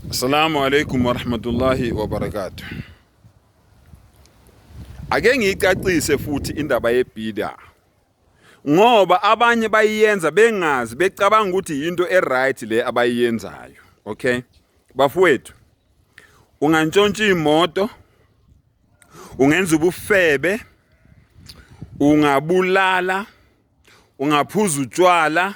Assalamu alaikum warahmatullahi wabarakatuh. Ake ngiyicacise futhi indaba yebhida ngoba abanye bayiyenza bengazi becabanga ukuthi yinto eright le abayiyenzayo okay bafowethu ungantshontsha imoto ungenza ubufebe ungabulala ungaphuza utshwala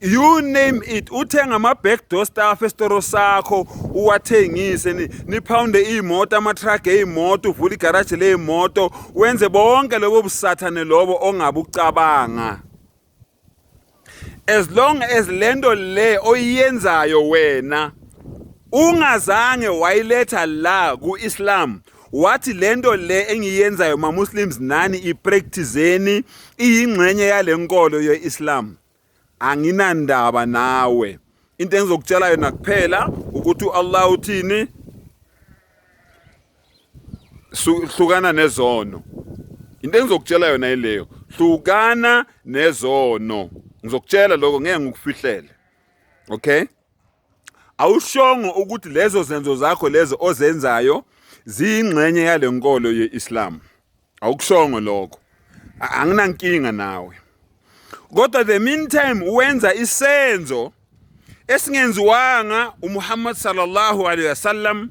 you name it uthenga ama-back door staff esitoro sakho uwathengise niphawunde iy'moto ama-truck ey'moto uvule igaraji ley'moto wenze bonke lobo busathane lobo ongabe ucabanga as long as le nto le oyiyenzayo wena ungazange wayiletha la ku-islam wathi lento le engiyenzayo ma Muslims nani ipracticeni iyingxenye yalenkolo yeIslam anginandaba nawe into engizokutshela yona kuphela ukuthi uAllah uthini hlukana nezono into engizokutshela yona ileyo hlukana nezono ngizokutshela lokho ngeke ngikufihlele okay awushongo ukuthi lezo zenzo zakho lezo ozenzayo ziyingxenye yale nkolo ye-Islam awukushongo lokho A- anginankinga nawe kodwa the meantime wenza isenzo esingenziwanga uMuhammad sallallahu alaihi wasallam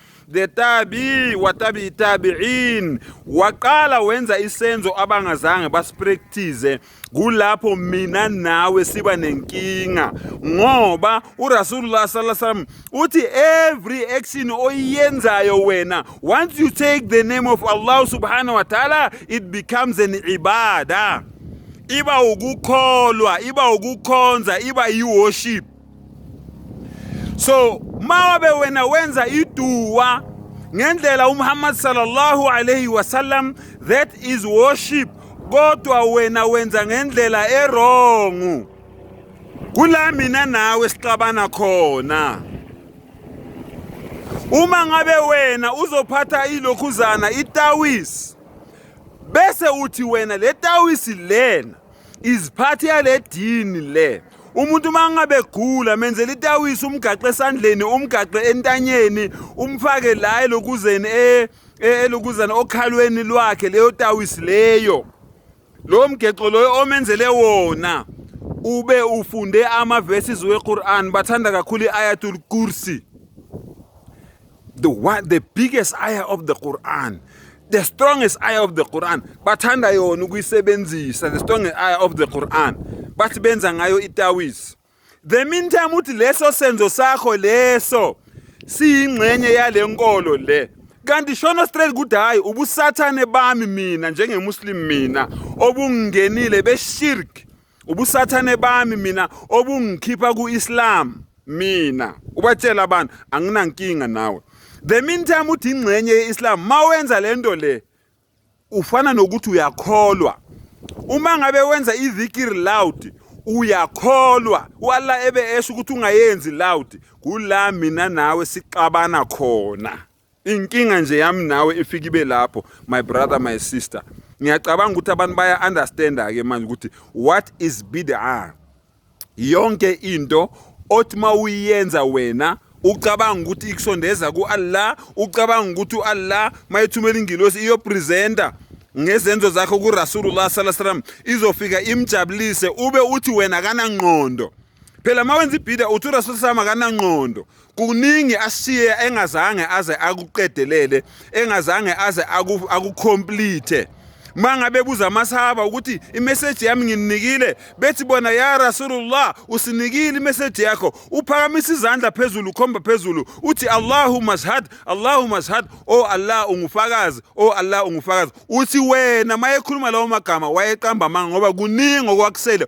the tabi wa tabi tabi'in waqala wenza isenzo abangazange basipractice kulapho mina nawe siba nenkinga ngoba uRasulullah sallallahu alaihi wasallam uthi every action oyenzayo wena once you take the name of Allah subhanahu wa ta'ala it becomes an ibada iba ukukholwa iba ukukhonza iba i worship so mawabe wena wenza iduwa ngendlela uMuhammad sallallahu alayhi wasallam that is worship kodwa wena wenza ngendlela erongu kula mina nawe sixabana khona uma ngabe wena uzophatha ilokhuzana itawisi bese uthi wena le tawisi lena iziphathi yale dini le umuntu uma ngabe gula menzela itawisi umgaxe esandleni umgaxe entanyeni umfake la elokuzeni e, e, elokuzana okhalweni lwakhe leyo tawisi leyo lo mgexo loyo omenzele wona ube ufunde ama-verses we-quran bathanda kakhulu i-ayatul kursi the one the biggest ayah of the Quran the strongest ayah of the Quran bathanda yona ukuyisebenzisa the strongest ayah of the Quran bathi benza ngayo itawis the meantime uthi leso senzo sakho leso siyingxenye yale nkolo le kanti shono straight ukuthi hayi ubusathane bami mina njengemuslim mina obungenile beshirk ubusathane bami mina obungikhipha ku-islam mina ubatshela abantu anginankinga nawe the meantime uthi ingxenye ye-islam ma wenza le nto le ufana nokuthi uyakholwa uma ngabe wenza idhikiri loud uyakholwa u-allah ebe esho ukuthi ungayenzi loud kula mina nawe sixabana khona Inkinga nje yami nawe ifike ibe lapho my brother my sister. Ngiyacabanga ukuthi abantu baya understand ke manje ukuthi what is bid'ah. Yonke into othi mawuyenza wena ucabanga ukuthi ikusondeza kuAllah, ucabanga ukuthi uAllah mayethumela ingilosi iyopresenter ngezenzo zakho kuRasulullah sallallahu alaihi wasallam izofika imjabulise ube uthi wena kanangqondo. phela uma wenza ibhida uthi urasul sam akananqondo kuningi ashiye engazange aze akuqedelele engazange aze akucomplete aku mangabe buza amasahaba ukuthi imeseji yami ngininikile bethi bona ya rasulullah usinikile imeseji yakho uphakamisa izandla phezulu ukhomba phezulu uthi allahumma shhad allahumma shhad o oh allah ungufakazi o oh allah ungufakazi uthi wena mayekhuluma lawo magama wayeqamba amanga ngoba kuningi okwakusele